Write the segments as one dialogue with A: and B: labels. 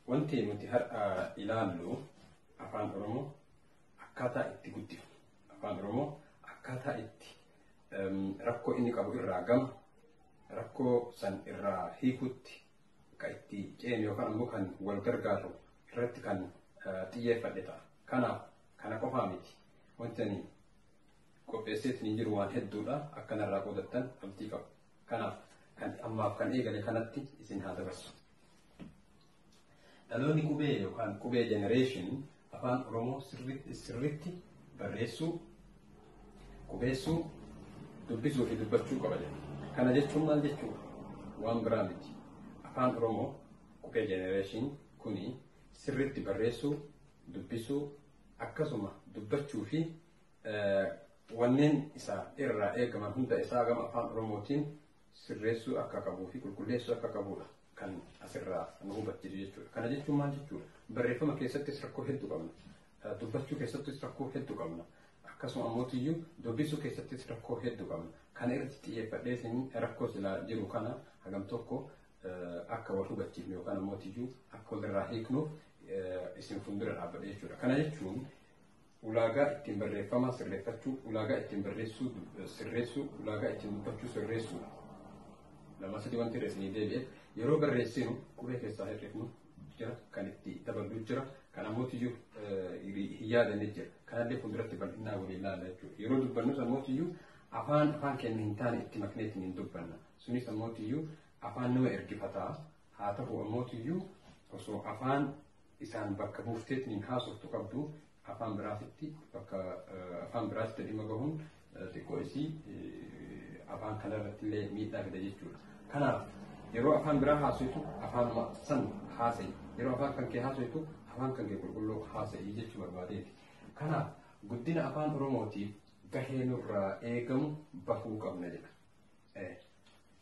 A: Wanti nuti har'a ilaallu afaan Oromoo akkaataa itti guddifnu, afaan Oromoo akkaataa itti rakkoo inni qabu irraa gama rakkoo san irraa hiikutti kan itti ceenu yookaan ammoo kan wal gargaaru irratti kan xiyyeeffadhe ta'a. Kanaaf kana qofaa miti. Wanti ani qopheesseetiin hin jiru waan hedduudha. Akka narraa qoodattan abdii qabu. Kanaaf kan ammaaf kan eegale kanatti isin haa dabarsu. Dhaloonni qubee yookaan qubee generation afaan Oromoo sirriitti sirriitti barreessuu, qubeessuu, dubbisuu fi dubbachuu qaba jedha. Kana jechuun maal jechuudha? Waan biraa miti. Afaan Oromoo qubee generation kuni sirriitti barreessuu, dubbisuu, akkasuma dubbachuu fi wanneen isa irraa eegaman hunda isaa gama afaan oromootiin sirreessuu akka qabuu fi qulqulleessuu akka qabuudha kan asirraa nu hubachiisu jechuudha. Kana jechuun maal jechuudha? Barreeffama keessattis rakkoo hedduu qabna. Dubbachuu keessattis rakkoo hedduu qabna. Akkasuma ammoo dubbisuu keessattis rakkoo hedduu qabna. Kana irratti xiyyeeffadhee isin rakkoo silaa jiru kana hagam tokko akka wal hubachiifnu yookaan ammoo akka walirraa hiiknuuf isin fuuldura dhaabbadhe jechuudha. Kana jechuun ulaagaa ittiin barreeffamaa sirreeffachuu, ulaagaa ittiin barreessuu du- sirreessuu, ulaagaa ittiin dubbachuu sirreessuudha. Lama sadii wanti irra isinii deebi'e yeroo barreessinu qubee keessaa hir'ifnu jira, kan itti daballu jira, kan ammoo iyyuu hin yaadanne jira. Kanallee fuulduratti bal'inaa waliin ilaalla jechuudha. Yeroo dubbannus ammoo iyyuu afaan afaan keenya hin taane itti maknee ittiin hin dubbanna. Sunis ammoo iyyuu afaan nama ergifataa haa ta'u ammoo iyyuu osoo afaan isaan bakka buufteetniin haasoftu qabdu afaan biraatitti bakka afaan biraatitti dhimma bahuun xiqqoo isii afaan kana irratti illee miidhaa fida jechuudha. Kanaaf yeroo afaan biraa haasoftu afaanuma san haasa'i. Yeroo afaan kan kee haasoftu afaan kan kee qulqulluu haasa'i jechuu barbaadeeti. Kanaaf guddina afaan Oromootiif gahee nurraa eegamu bahuu qabna jedha.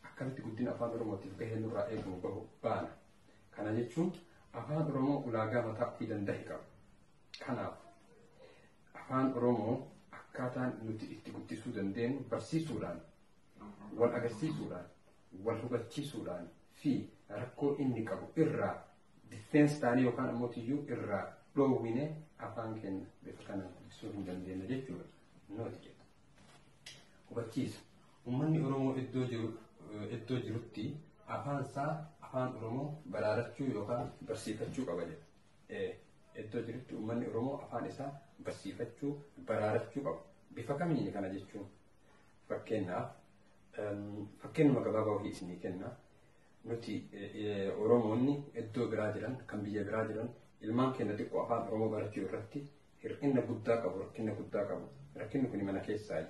A: Akkamitti guddina afaan Oromootiif gahee nurraa eegamu bahu baana Kana jechuun afaan Oromoo ulaagaa mataa ofii danda'e qaba. Kanaaf afaan Oromoo akkaataan nuti itti guddisuu dandeenyu barsiisuudhaan, wal agarsiisuudhaan, wal hubachiisuudhaan fi rakkoo inni qabu irraa difeensi taanee yookaan ammoo tiyyuu irraa dhoowwine afaan keenya bifa kanaan guddisuu hin dandeenye jechuudha. Nooti jedha. Hubachiisa. Ummanni Oromoo iddoo jiru iddoo jirutti afaan isaa afaan Oromoo baraarachuu yookaan barsiifachuu qaba jedha. Ee, Iddoo jirutti ummanni Oromoo afaan isaa barsiifachuu baraarachuu qaba. Bifa kamiin kana jechuun fakkeenyaaf em, fakkeenyuma gabaabaa wahii isinii kenna. Nuti eh, eh, Oromoonni iddoo biraa jiran kan biyya biraa jiran ilmaan keenya xiqqoo afaan Oromoo barachuu irratti hir'ina guddaa qabu rakkina guddaa qabu rakkinni kun mana keessaayi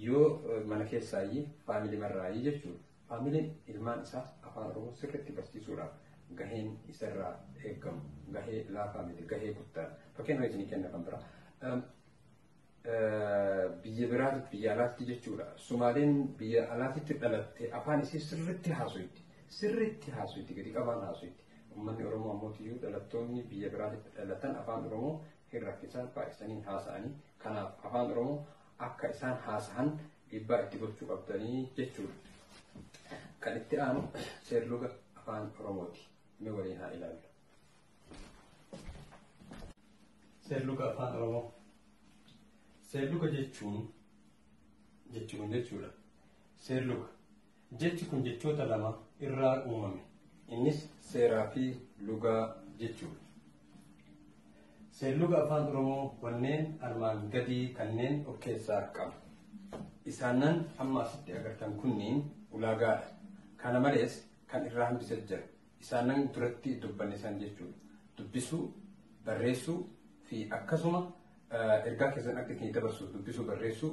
A: yoo mana keessaayi faamilii marraayi jechuudha faamiliin ilmaan isaa afaan oromoo sirriitti barsiisuudhaaf gaheen isarraa eegamu gahee laafaa miti gahee guddaa fakkeenya isinii kenna kan biraa biyya biraatti biyya alaatti jechuudha sumaaleen biyya alaatti dhalatte afaan isii sirriitti haasofti sirriitti haasofti gadi qabaan haasofti Uummanni Oromoo ammoo tiyyuu dhalattoonni biyya biraatitti dhalatan afaan Oromoo hin rakkisan baay'isanii haasa'anii kanaaf afaan Oromoo akka isaan haasahan dhiibbaa itti gochuu qabdanii jechuudha. Kan itti aanu seerluga afaan Oromooti. Mee waliin haa ilaallu. Seerluga afaan Oromoo. Seerluga jechuun jechuun jechuudha. Seerluga Jechi kun jechoota lama irraa uumame. Innis seeraa fi lugaa jechuudha. Seerluga Afaan Oromoo wanneen armaan gadii kanneen of keessaa qaba. Isaannan amma asitti agartan kunniin ulaagaadha. Kana malees kan irraa hambise jira. Isaannan duratti dubbanne san jechuudha. Dubbisuu, barreessuu fi akkasuma ergaa keessan akka ittiin dabarsuuf dubbisuu, barreessuu,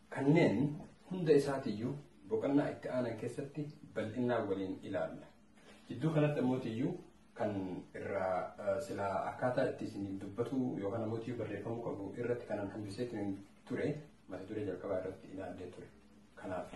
A: Kanneen hunda isaatiyyuu boqonnaa itti aanan keessatti bal'innaan waliin ilaalla. Jidduu kanatti ammootiyyuu kan irraa silaa akkaataa itti isiniif dubbatuu yookaan ammootiyyuu barreeffamuu qabu irratti kanan hambisee ture mata duree jalqabaa irratti ilaallee ture. Kanaaf.